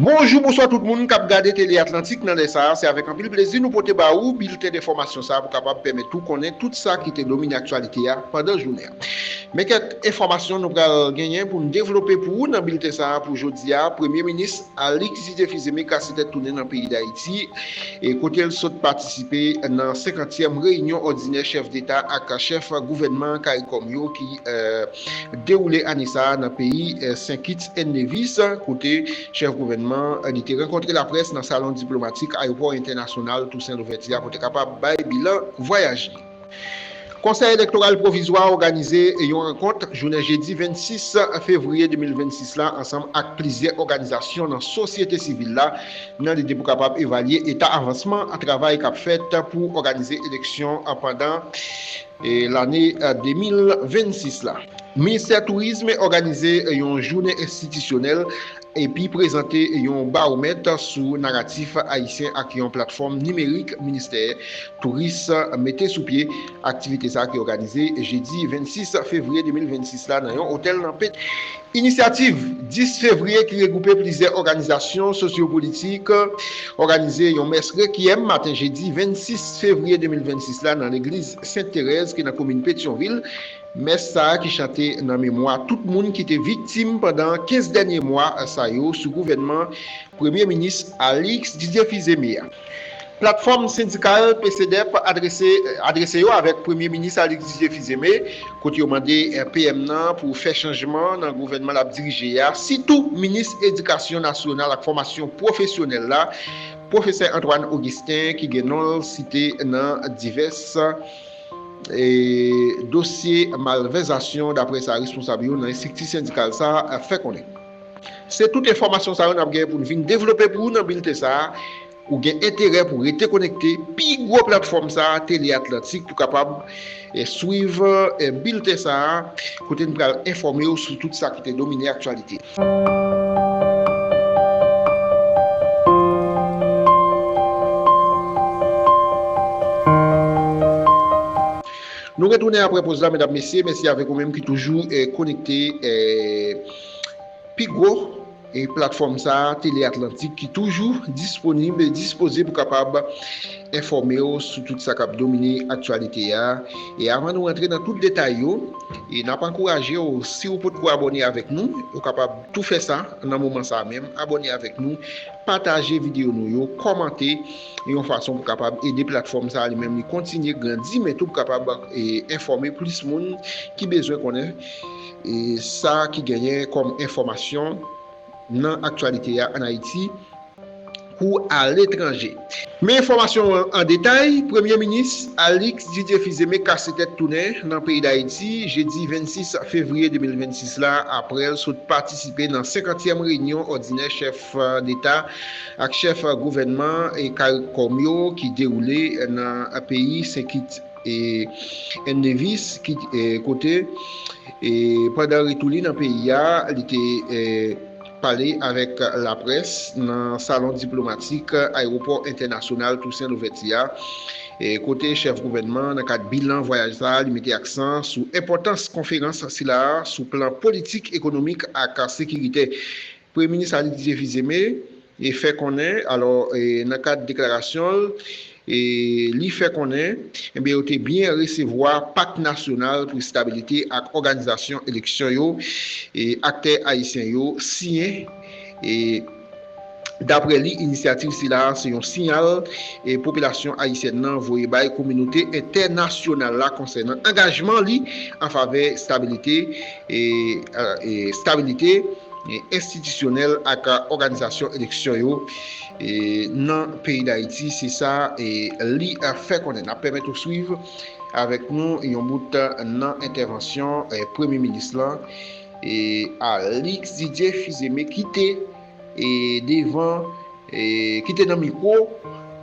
Bonjou, bonswa tout moun kap gade Tele Atlantik nan lè sa a, se avèk anpil plezi nou pote ba ou bilten denfòmasyon sa a pou kapab pèmèt ou konnen tout sa ki te domine aktyalite a pandan jounen an. Men kèk enfòmasyon nou pral genyen pou n devlope pou ou nan bilten sa a pou jodi a, Premye Minis Alix Didier Fils-Aimé kase tèt tounen nan peyi Dayiti kote l sot patisipe nan 50 tièm reyinyon òdinè chèf deta ak chèf gouvènman caricom yo ki dewoule ane sa a nan peyi Sen Kits èn Nevis, kote chèf gouvènman an li te rankontre laprès nan salon diplomatik ayewopò entènasyonal Tousen Louvèti a pou te kapab bay bilan vwayaj li. Konsèy Elektoral Pwovizwa a òganize yon rankont jounen jedi 26 fevriye 2026 la ansanm ak plizyè òganizasyon nan sosyete sivil la nan lide pou kapab evalye eta avansman travay k ap fèt pou òganize eleksyon pandan Lane 2026 la, Ministè Tourism òganize yon jounen enstitisyonèl epi prezante yon bawomèt sou naratif ayisyen ak yon platfòm nimerik Ministè Touris mete sou pye. Aktivite sa ki òganize jedi 26 fevriye 2026 la nan yon otèl nan. Inisyativ 10 fevriye ki regwoupe plizyè òganizasyon sosyopolitik òganize yon mès rekyèm maten jedi 26 fevriye 2026 la nan legliz Sent Terèz ki nan komin Petyonvil. Mès sa a ki chante nan memwa tout moun ki te viktim pandan 15 dènye mwa sa yo sou gouvènman premye minis Alix Didier Fils-Aimé a. Platfòm sendikal Pcdep adrese yo avèk Premye Minis Alexis Dieu Fils-Aimé kote yo mande PM nan pou fè chanjman nan gouvènman lap dirije a, sitou Minis Edikasyon Nasyonal ak Fòmasyon Pwofesyonèl la, Pwofesè Antoine Augustin ki gen non l site nan divès dosye malvèzasyon daprè sa responsab yo nan estrikti sendikal sa fè konnen. Se tout enfòmasyon sa yo nap gen pou n vin devlope pou ou nan bilten sa a. Ou gen enterè pou rete konekte pi gwo platfòm sa a, Tele Atlantik, pou kapab swiv bilten sa a kote n pral enfòme w sou tout sa ki te domine aktyalite. Nou retounen aprè poz la medam mesye, mèsi avèk ou menm ki toujou konekte. Pi gwo platfòm sa a, Tele Atlantik, ki toujou disponib e dispoze pou kapab enfòme w sou tout sa k ap domine aktyalite a. E avan nou rantre nan tout detay yo, n ap ankouraje w, si w potko abòne avèk nou, ou kapab tou fè sa nan moman sa a menm, abòne avèk nou, pataje videyo nou yo, kòmante, yon fason pou kapab ede platfòm sa a li menm li kontinye grandi, men tou pou kapab enfòme plis moun ki bezwen konnen. E sa ki genyen kòm enfòmasyon nan aktyalite a ann Ayiti kou aletranje. Men enfòmasyon an an detay, Premye Minis Alix Didier Fils-Aimé kase tèt tounen nan peyi Dayiti jedi 26 fevriye 2026 la aprè l sot patisipe nan senkantyèm reyinyon òdinè chèf deta ak chèf gouvènman caricom yo ki dewoule nan peyi Sen Kit. N. Davis, ki kote, pandan retou li nan peyi a, li te pale avèk laprès nan salon diplomatik Ayewopò Entènasyonal Tousen Louvèti a, kote chèf gouvènman an, nan kad bilan vwayaj sa a, li mete aksan sou enpòtans konferans sila a sou plan politik, ekonomik ak sekiritè. Premye minis Alidije Fizeme fè konnen alò nan kad deklarasyon l li fè konnen yo te byen resevwa Pak Nasyonal pou Estabilite ak Òganizasyon Eleksyon yo aktè ayisyen yo siyen e daprè li inisyativ sila se yon siyal popilasyon ayisyèn nan voye bay kominote entènasyonal la konsènan angajman li anfavè stabilite e stabilite enstitisyonèl ak òganizasyon eleksyon yo nan peyi Dayiti, se sa li fè konnen. N ap pèmèt ou swiv avèk nou yon bout nan entèvansyon Premye Minis lan, Alix Didier Fils-Aimé ki te devan, ki te nan mikwo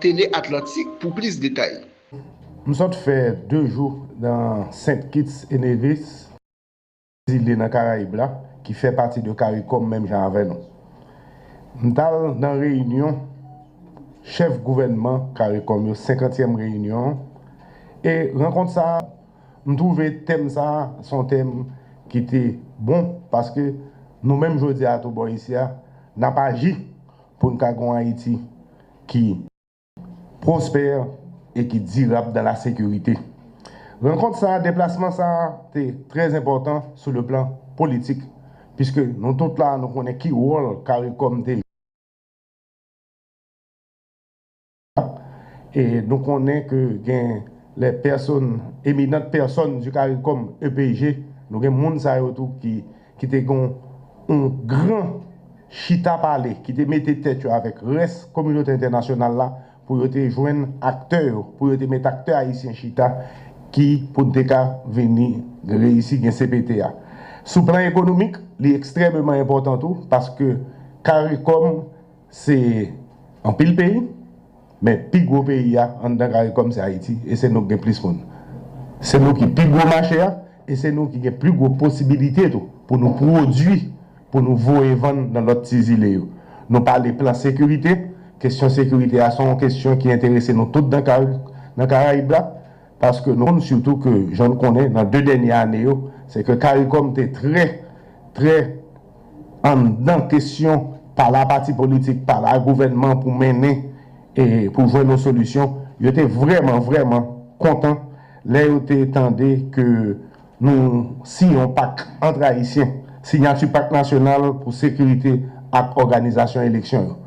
Tele Atlantik pou plis detay. M sot fè 2 jou nan St Kitts e Nevis. zile nan karayib la ki fè pati de caricom menm jan avè nou m tal nan reyinyon chèf gouvènman caricom yo senkantyèm reyinyon e rankont sa m twouve tèm sa se yon tèm ki te bon paske nou menm jodi a tou bò isi a nap aji poun ka gon ayiti ki. pwospè e ki dirab dan la sekirite. Rankont sa a, deplasman sa a te trè enpòtan sou le plan politik piske nou tout la a nou konnen ki wòl caricom te jwe e nou konnen ke gen les personnes eminentes personnes du caricom EPG nou gen moun sa yo tou ki ki te gen yon gran chita pale, ki te mete tèt yo avèk rès kominote entènasyonal la pou yo te jwenn aktè yo, pou yo te met aktè ayisyen chita ki pou n te ka vini reyisi gen cpt a. Sou plan ekonomik, li ekstrèmeman enpòtan tou paske caricom Se anpil peyi, men pi gwo peyi a anndan caricom se Ayiti e se nou k gen plis moun. Se nou ki pi gwo mache a e se nou ki gen pli gwo posibilite tou pou nou pwodui pou nou voye vann nan lòt ti zile yo. Nou pale plan sekirite, kesyon sekirite a se yon kesyon ki enterese nou tout nan Karayib la paske nou konn sitou ke jan nou konnen nan 2 dènye ane yo se ke caricom te trè trè anndan kesyon pa la pati politik, pa la gouvènman pou mennen e pou jwenn yon solisyon, yo te vrèman, vrèman kontan lè yo te tande ke nou siyen yon pak antre Ayisyen, sinyati pak nasyonal pou sekirite ak òganizasyon eleksyon yo.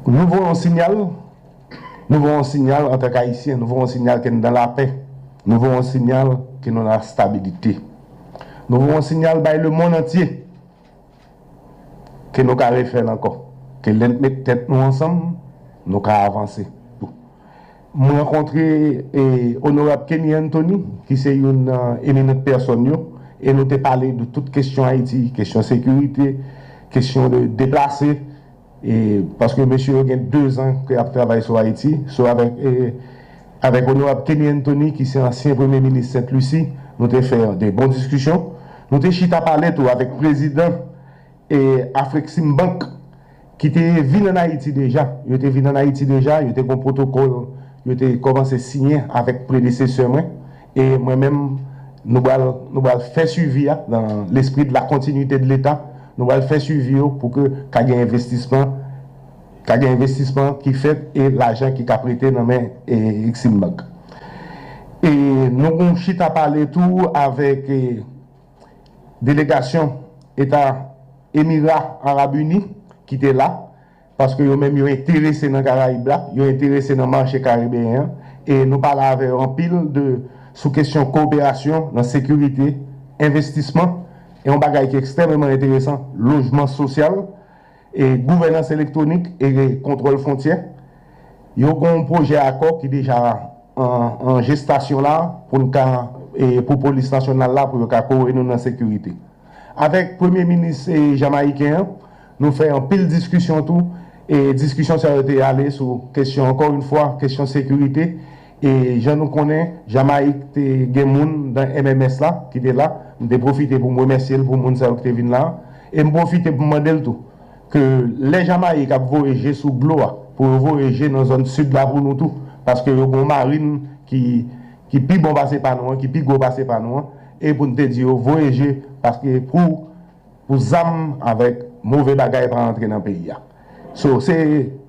Nou voye yon sinyal. Nou voye yon sinyal antank Ayisyen, nou voye yon sinyal ke nou nan lapè, nou voye yon sinyal ke nou nan lastabilite. Nou voye yon sinyal bay lemonn antye ke nou ka refè l ankò, ke lè n met tèt nou ansanm, nou ka avanse. M rankontre Onorab Kenny Anthony ki se youn nan eminant pèsòn yo e nou te pale de tout kesyon Ayiti, kesyon sekirite, kesyon deplase. Paske mesye yo gen 2 zan ke yap travay sou Ayiti, sou avèk avèk Onorab Kenny Anthony ki se ansyen premye minis Sent Lisi, nou te fè de bon diskisyon. Nou te chita pale tou avèk prezidan Afreksimbank ki te vin an Ayiti deja. Yo te vin an Ayiti deja, yo te gon pwotokòl yo te kòmanse siyen avèk predesesè mwen. E mwen menm, nou bal, nou bal fè swivi a nan lespri de la continuité de l'Etat, nou bal fè swivi yo pou ke ka gen envestisman, ka gen envestisman ki fèt e lajan ki ka prete nan men Eximbank. E nou gon chita pale tou avèk delegasyon Eta Emira Arab Uni ki te la. Paske yo menm yo enterese nan Karayib la, yo enterese nan mache karibeyen an, e nou pale avè yo anpil de sou kesyon koperasyon nan sekirite, envestisman, e yon bagay ki ekstrèmeman enteresan, lojman sosyal, e gouvènans elektwonik e kontwòl fwontyè. Yo gen yon pwojè akò ki deja an jestasyon la pou n ka pou polis nasyonal la pou yo ka kore nou nan sekirite. Avèk premye minis jamayiken an, Nou fè anpil diskisyon tou e diskisyon sa yo te ale sou kesyon ankò yn fwa kesyon sekirite e jan nou konnen Jamayik te gen moun nan MMS la ki te la m te pwofite pou m remèsye l pou moun sa yo ki te vin la a e m pwofite pou m mande l tou ke lè Jamayik ap voye je sou glo a pou yo voye je nan zòn sid la pou nou tou paske yo gon marin ki ki pi bon pase pa nou an ki pi gwo pase pa nou an e pou n te di yo voye je paske pou Pou zam avèk move bagay pa antre nan peyi a. So, se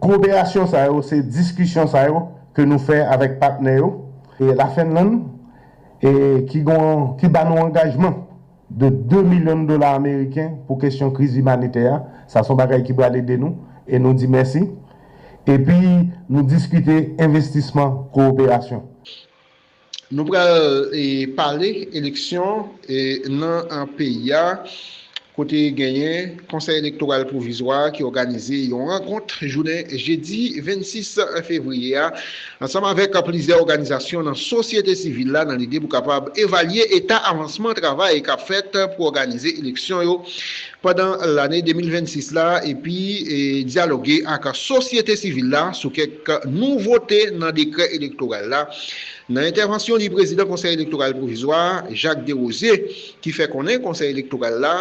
koperasyon sa yo, se diskisyon sa yo ke nou fè avèk patnè yo. E La Fenlann e ki gon ki ba nou angajman de 2 milyon dola ameriken pou kesyon kriz imanitè a. Sa son bagay ki bal ede nou e nou di mèsi. Epi nou diskite envestisman koperasyon. Nou pral pale eleksyon nan peyi a kote genyen Konsèy Elektoral Pwovizwa ki òganize yon rankont jounen jedi 26 fevriye a ansanm avèk plizyè òganizasyon nan sosyete sivil la nan lide pou kapab evalye eta avansman travay k ap fèt pou òganize eleksyon yo pandan lane 2026 la epi dyaloge ak sosyete sivil la sou kèk nouvote nan dekrè elektoral la. Nan entèvansyon li prezidan Konsèy Elektoral Pwovizwa a, Jacques Desrosiers, ki fè konnen Konsèy Elektoral la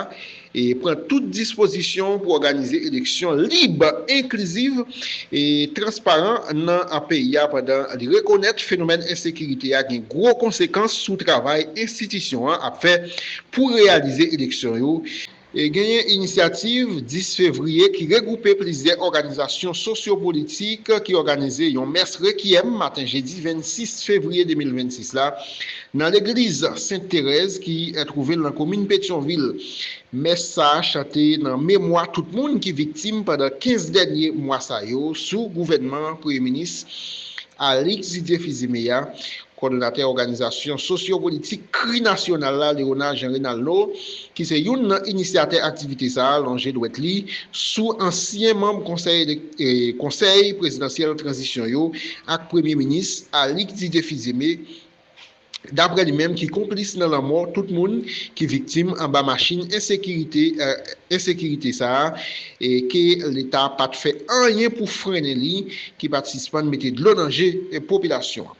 pran tout dispozisyon pou òganize eleksyon lib, enkliziv e transparan nan peyi a pandan li rekonèt fenomèn ensekirite a gen gwo konsekans sou travay enstitisyon an ap fè Pou reyalize eleksyon yo, genyen Inisyativ 10 Fevriye ki regwoupe plizyè òganizasyon sosyopolitik ki òganize yon mès rekyèm maten jedi 26 fevriye 2026 la nan legliz Sent Terèz ki twouve l nan komin Petyonvil. Mès sa chante nan memwa tout moun ki viktim pandan 15 dènye mwa sa yo sou gouvènman Premye Minis Alix Didier Fils-Aimé a, Kòdonatè òganizasyon sosyopolitik Kri Nasyonal la, Léonard Jean Renaldo, ki se youn nan inisyatè aktivite sa a, lonje dwèt li sou ansyen manm konsèy konsèy prezidansyèl tranzisyon yo ak premye minis Alix Didier Fils-Aimé, daprè li menm, ki konplis nan lanmò tout moun ki viktim anba machin ensekirite ensekirite sa a e ke leta pa t fè anyen pou frennen li, ki pa t sispann mete dlo nan je popilasyon an.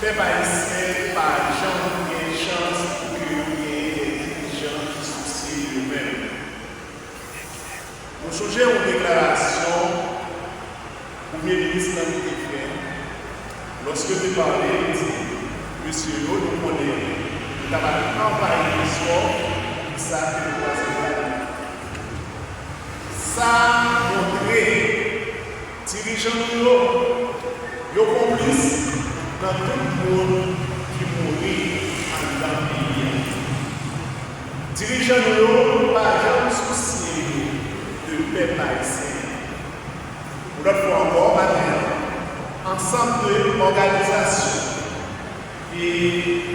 Pèp ayisyen pa janm gen chans pou ke yo genyen de dirijan ki sousye de yo menm. Nou sonje yon deklarasyon premye minis lan ki te fè, lòske yo te pale, yo di, Mesye yo, nou konnen nou ta pral anvayi Lensò, poukisa ke nou pa soti la nou? Sa montre. Dirijan nou yo, yo konplis nan tout moun ki mouri anndan peyi a. Dirijan nou yo pa janm sousye yo de pèp ayisyen an. Yon lòt fwa ankò maten an, ansanm de òganizasyon. E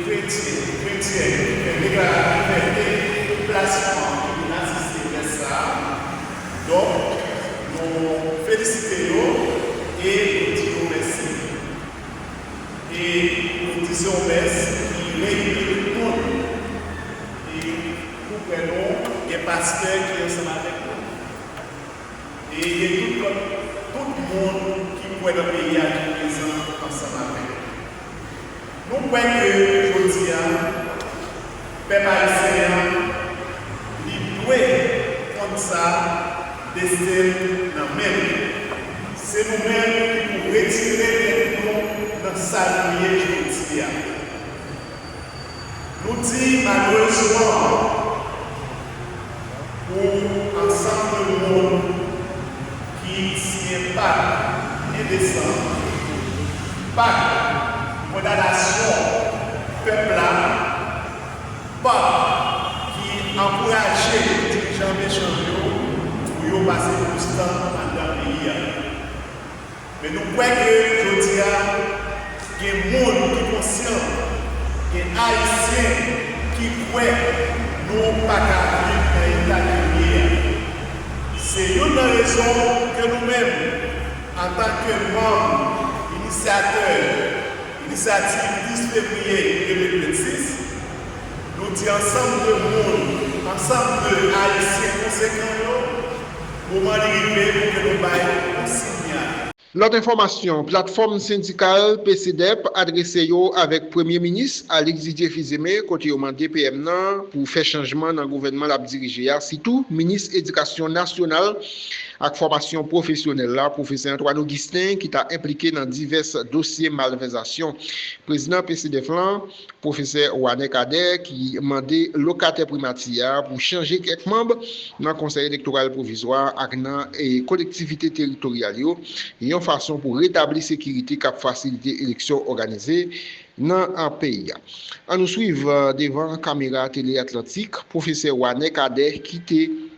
kretyen, kretyèn, ki fè deklaratif libète plasman yo vin asiste mès sa a. Donk, nou felisite yo e nou di yo mèsi. E nou di se yon mès ki reyini tout moun. E nou kwè nou gen pastè ki ansanm avèk nou. E gen tout lòt, tout moun ki kwè nan peyi a ki prezan ansanm avèk nou. Nou kwè ke jodi a, pèp ayisyen an, li dwe konn sa, desten l nan men l. Se nou menm ki pou retire tèt nou nan sa nou ye jodi a. Nou di malerezman pou ansanm de moun ki siyen pak 1 desanm, pak kondanasyon pèp la, pak ki ankouraje dirijan mechan yo pou yo pase plis tan anndan peyi a. Men nou kwè ke jodi a, gen moun ki konsyan, gen Ayisyen ki kwè nou pa ka viv nan eta ke nou ye a. Se youn nan rezon ke nou menm, antan ke manm inisyatè inisyativ 10 fevriye 2026, nou di ansanm de moun, ansanm de Ayisyen konsekan yo, Moman li rive pou ke nou bay konsinya. Lòt enfòmasyon, Platfòm sendikal PCDEP adrese yo avèk Premye Minis Alix Didier Fils-Aimé kote yo mande PM nan pou fè chanjman nan gouvènman l ap dirije a sitou Minis Edikasyon Nasyonal ak Fòmasyon Pwofesyonèl la Pwofesè Antoine Augustin ki ta enplike nan divès dosye malvèzasyon Prezidan PCDEF lan Pwofesè Wanè Kadè ki mande lokatè Primati a pou chanje kèk manb nan Konsèy Elektoral Pwovizwa ak nan Kolektivite Teritoryal yo yon fason pou retabli sekirite k ap fasilite eleksyon òganize nan peyi a. An nou swiv devan kamera Tele Atlantik Pwofesè Wanè Kadè ki te.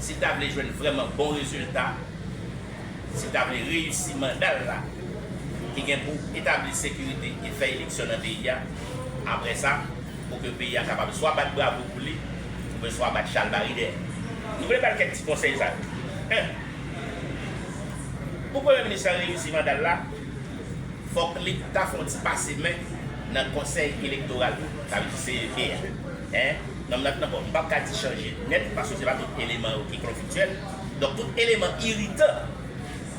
Si ta vle jwenn vrèman bon rezilta, si ta vle reyisi manda l la ki gen pou etabli sekirite e fè eleksyon nan peyi a, apre sa pou ke peyi a kapab swa bat bravo pou li oubyen swa bat chalbari dèyè. Nou vle ba l kèk ti konsèy sa yo. 1, Pou Premye Minis la reyisi manda l la, fòk li ta fè yon ti pase men nan Konsèy Elektoral la, sa vle di CEC a. 1. Nonm nan t nan kò. M pap ka di chanje nèt paske se pa tout eleman yo ki konfliktyèl. Donk tout eleman iritan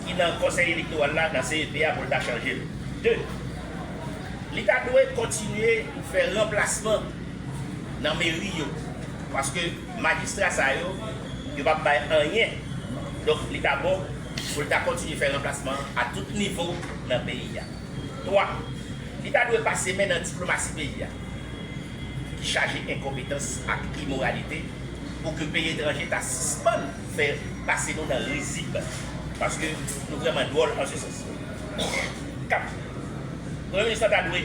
ki nan konsèy elektoral la, nan CEP a pou l ta chanje l. 2, Li ta dwe kontinye fè ranplasman nan meri yo paske majistra sa yo, yo pap bay anyen. Donk li ta bon pou l ta kontinye fè ranplasman a tout nivo nan peyi a. 3, Li ta dwe pase men nan diplomasi peyi a ki chaje enkonpetans ak imoralite pou ke peyi etranje ta sispann fè pase nou nan rizib paske nou vrèman dwòl an se sans. 4, Premye Minis lan ta dwe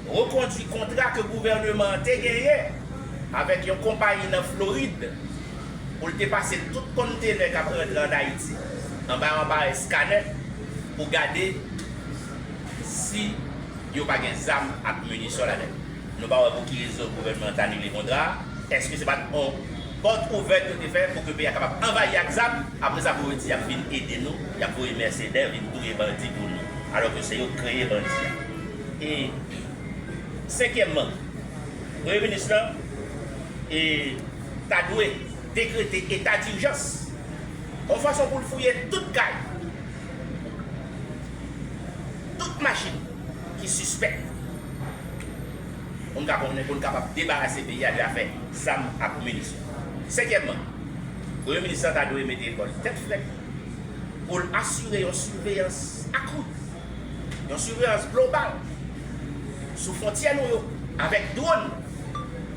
rekondui kontra ke gouvèneman an te genyen avèk yon konpayi nan Florid pou l te pase tout konntenè k ap rantre an Ayiti anba anparèy skanè. pou gade si yo pa gen zam ak minisyon ladan yo. Nou pa wè pou ki rezon gouvènman an t anile kontra a. Èske se pa t on pòt ouvèt yo te fè pou ke peyi a kapab anvayi ak zam, apre sa pou yo di y ap vin ede nou, y ap voye mèsenè vin touye bandi pou nou, alò ke se yo k kreye bandi a? E senkyèmman, Premye minis lan ta dwe. Dekrete eta dijans yon fason pou l fouye tout kay, tout machin ki sispèk pou n ka konnen, pou n kapab debarase peyi a de afè zam ak minisyon. Senkyèmman, Premye Minis la ta dwe mete kò l tèt frèt pou l asire yon siveyans akri, yon siveyans global sou fwontyè nou yo avèk dwòn.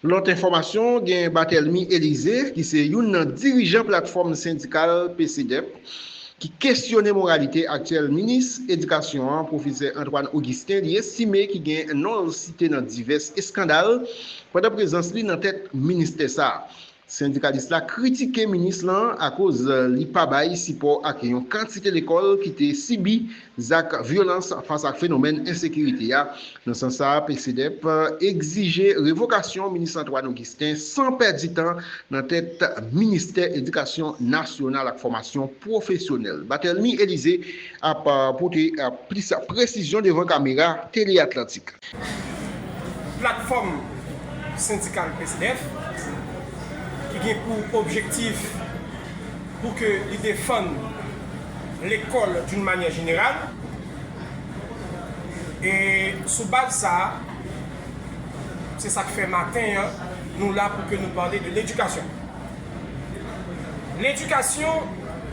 Lòt enfòmasyon, gen Barthelmy Elize ki se youn nan dirijan platfòm sendikal PCDEP ki kesyone moralite aktyèl minis edikasyon an pwofesè Antoine Augustin li estime ki gen non l site nan divès eskandal pandan prezans li nan tèt ministè sa. Sendikalis la kritike minis lan akoz li pa bay sipò ak yon kantite lekòl ki te sibi Zak vyolans fas ak fenomèn ensekirite a. Nan sans sa a, PCDEP egzije revokasyon minis Antoine Augustin san pèdi tan nan tèt ministè edikasyon nasyonal ak fòmasyon pwofesyonèl. Batelmy Elize ap pote plis presizyon devan kamera Tele Atlantik. Platfòm sendikal PCF ki gen pou objektif pou ke li defann lekòl d'une manière générale e sou baz sa a se sa k fè maten an nou la pou ke nou pale de l'éducation. L'éducation.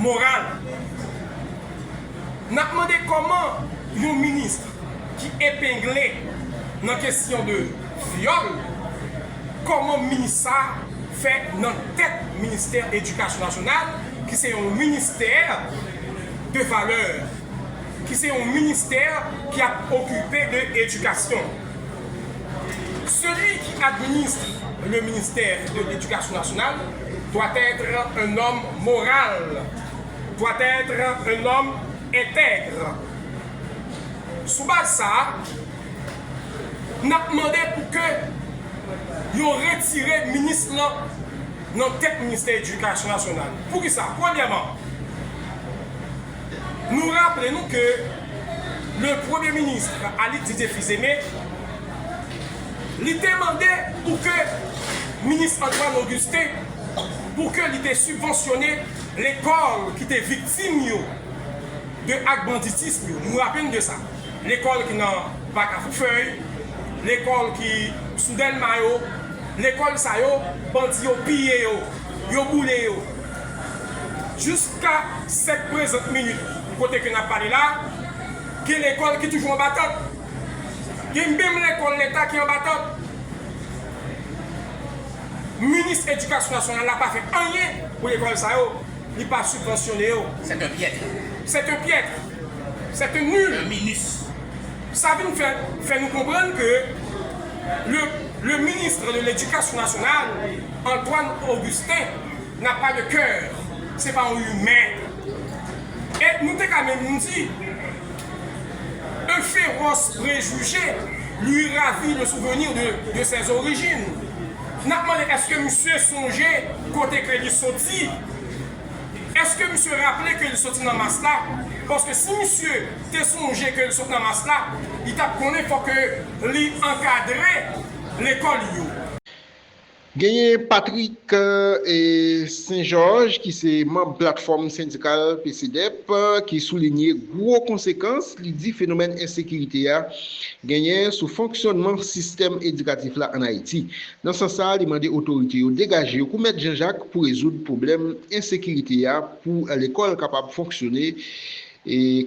Moral. N ap mande kòman yon ministre ki epengle nan kesyon de vyòl, kòman minis sa fè nan tèt ministè edikasyon nasyonal ki se yon ministè de valè, ki se yon ministè ki ap okipe de edikasyon. Seli ki administre le ministè de edikasyon nasyonal. doit être un homme moral, doit être un homme intègre. Sou baz sa a, n ap mande pou ke yo retire minis lan nan tèt Ministè Edikasyon Nasyonal. Pou ki sa? Premyèman, nou raple nou ke le Premye Minis Alix Didier Fils-Aimé, Li te mande pou ke Minis Antoine Augustin pou ke li te sibvansyone lekòl ki te viktim yo de ak banditism yo. Nou raple n de sa. Lekòl ki nan Pak a Foufèy, lekòl ki sou Dèlma yo, lekòl sa yo bandi yo piye yo, yo boule yo. Jiska sèt prezant minit kote ke n ap pale la, gen lekòl ki toujou anba tant. Gen menm lekòl leta ki anba tant. Minis edikasyon nasyonal la pa fè anyen pou lekòl sa yo, li pa sibvansyone yo. C'est un piètre. C'est un piètre. C'est un nul. Un minus. Sa vin fè fè nou konprann ke le le ministre de l'Education nationale Antoine Augustin n'a pas de coeur. Se pa yon humain. E nou te ka menm di. Un féroce préjugé lui ravit le souvenir de ses origines. N ap mande èske misye sonje kote ke li soti? Èske misye raple ke li soti nan Mas la? Paske si misye te sonje ke li sot nan Mas la, li t ap konnen fòk ke li ankadre lekòl yo. Genyen Patrick Saint-Georges ki se manb platfòm sendikal PCDEP ki soulinye gwo konsekans li di fenomèn ensekirite a genyen sou fonksyònman sistèm edikatif la an Ayiti. Nan sans sa a li mande otorite yo degaje yo kou mèt Janjak pou rezoud pwoblèm ensekirite a pou lekòl kapab fonksyone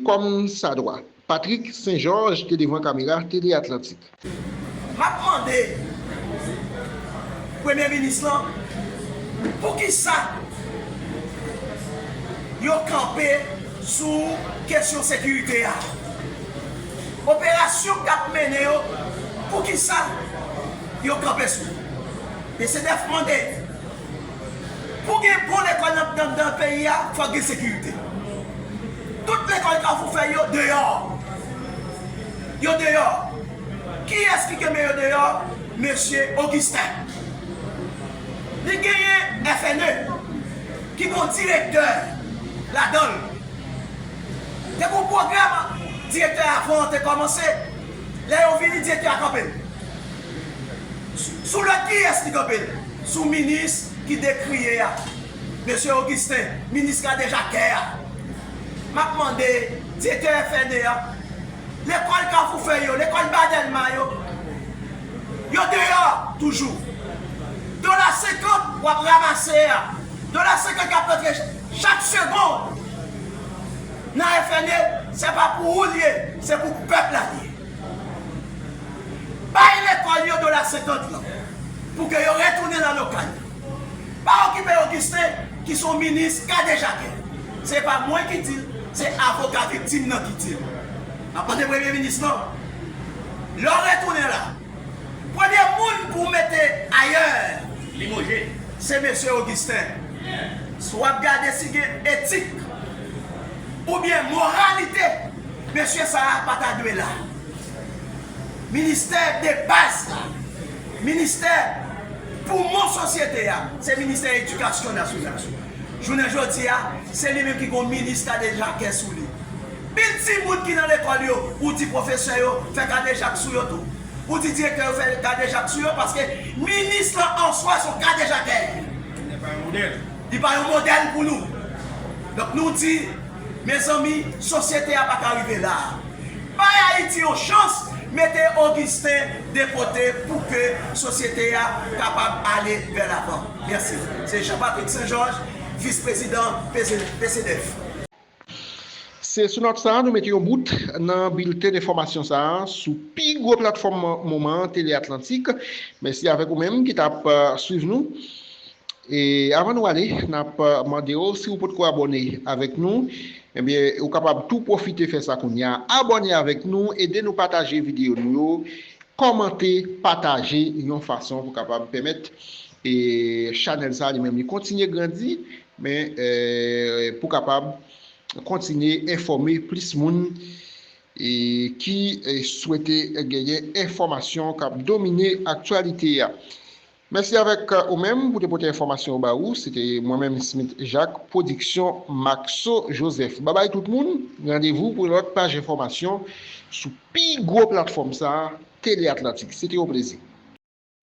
kòm sa dwa. Patrick Saint Georges te devan kamera Télé Atlantique. M ap mande Premye Minis lan poukisa yo kanpe sou kesyon sekirite a. Operasyon k ap mennen yo, poukisa yo kanpe sou li? Mesye Dèf mande. Pou gen bon lekòl nan anndan peyi a, fòk gen sekirite. Tout lekòl Kafou fè yo deyò. Yo deyò. Kiyès ki kenbe yo deyò? Mesye Ogisten. Li genyen FNE ki gon direktè ladan l. Te gon pwogram direktè a vante kòmanse. Lè yo vini direktè a kanpe. Sou lòd kiyès li kanpe l? Sou minis ki dekriye a. Mesye Augustin, minis kadejakè a. M ap mande direktè FNE a, lekòl Kafoufèy yo, lekòl Ba Dèlma yo, yo deyò toujou? Dola senkant w ap ramase a, dola senkant k ap rantre chak segond nan FNE, se pa pou ou l ye, se pou pèp la l ye. Bay lekòl yo dola senkant lan pou ke yo retounen lan lokal yo. Pa okipe Augustin ki son minis kadejakè. Se pa mwen ki di l, se avoka viktim nan ki di l. M ap mande premye minis lan, lè w retounen la, premye moun pou w mete ayè limojé se mesye Augustin. W ap gade si gen etik oubyen moralite. Mesye sa a pa ta dwe la. Ministè debaz la, ministè poumon sosyete a, se ministè edikasyon nasyonal sou. Jounen jodi a, se li menm ki gon minis kadejakè sou li. Pil timoun ki nan lekòl yo, ou di pwofesè yo fè kadejak sou yo tou. Ou di direktè yo fè kadejak sou yo paske minis lan answa son kadejakè. Li pa yon modèl pou nou. Donk nou di, mezanmi, sosyete a pa ka rive la a. Bay Ayiti yon chans, mete Augustin de kote pou ke sosyete a kapab ale vè lavan. Mèsi. Se Jean Patrick Saint Georges, Vis Prezidan PCDEF. Se sou nòt sa a nou mete yon bout nan bilten enfòmasyon sa a sou pi gwo platfòm moman an Tele Atlantik. Mèsi avèk ou menm ki t ap swiv nou. E avan nou ale, n ap mande w si ou potko abòne avèk nou, ebyen ou kapab tou pwofite fè sa kounye a. Abòne avèk nou, ede nou pataje videyo nou yo, kòmante, pataje yon fason pou kapab pèmèt chanèl sa a li menm li kontinye grandi Men pou kapab kontinye enfòme plis moun ki swete genyen enfòmasyon k ap domine aktyalite a. Mèsi avèk ou menm pou te pote enfòmasyon yo ba ou. Se te mwen menm Smith Jacques, pwodiksyon Maxo Joseph. Babay tout moun, randevou pou yon lòt paj enfòmasyon sou pi gwo platfòm sa a, Tele Atlantik. Se te yon plezi.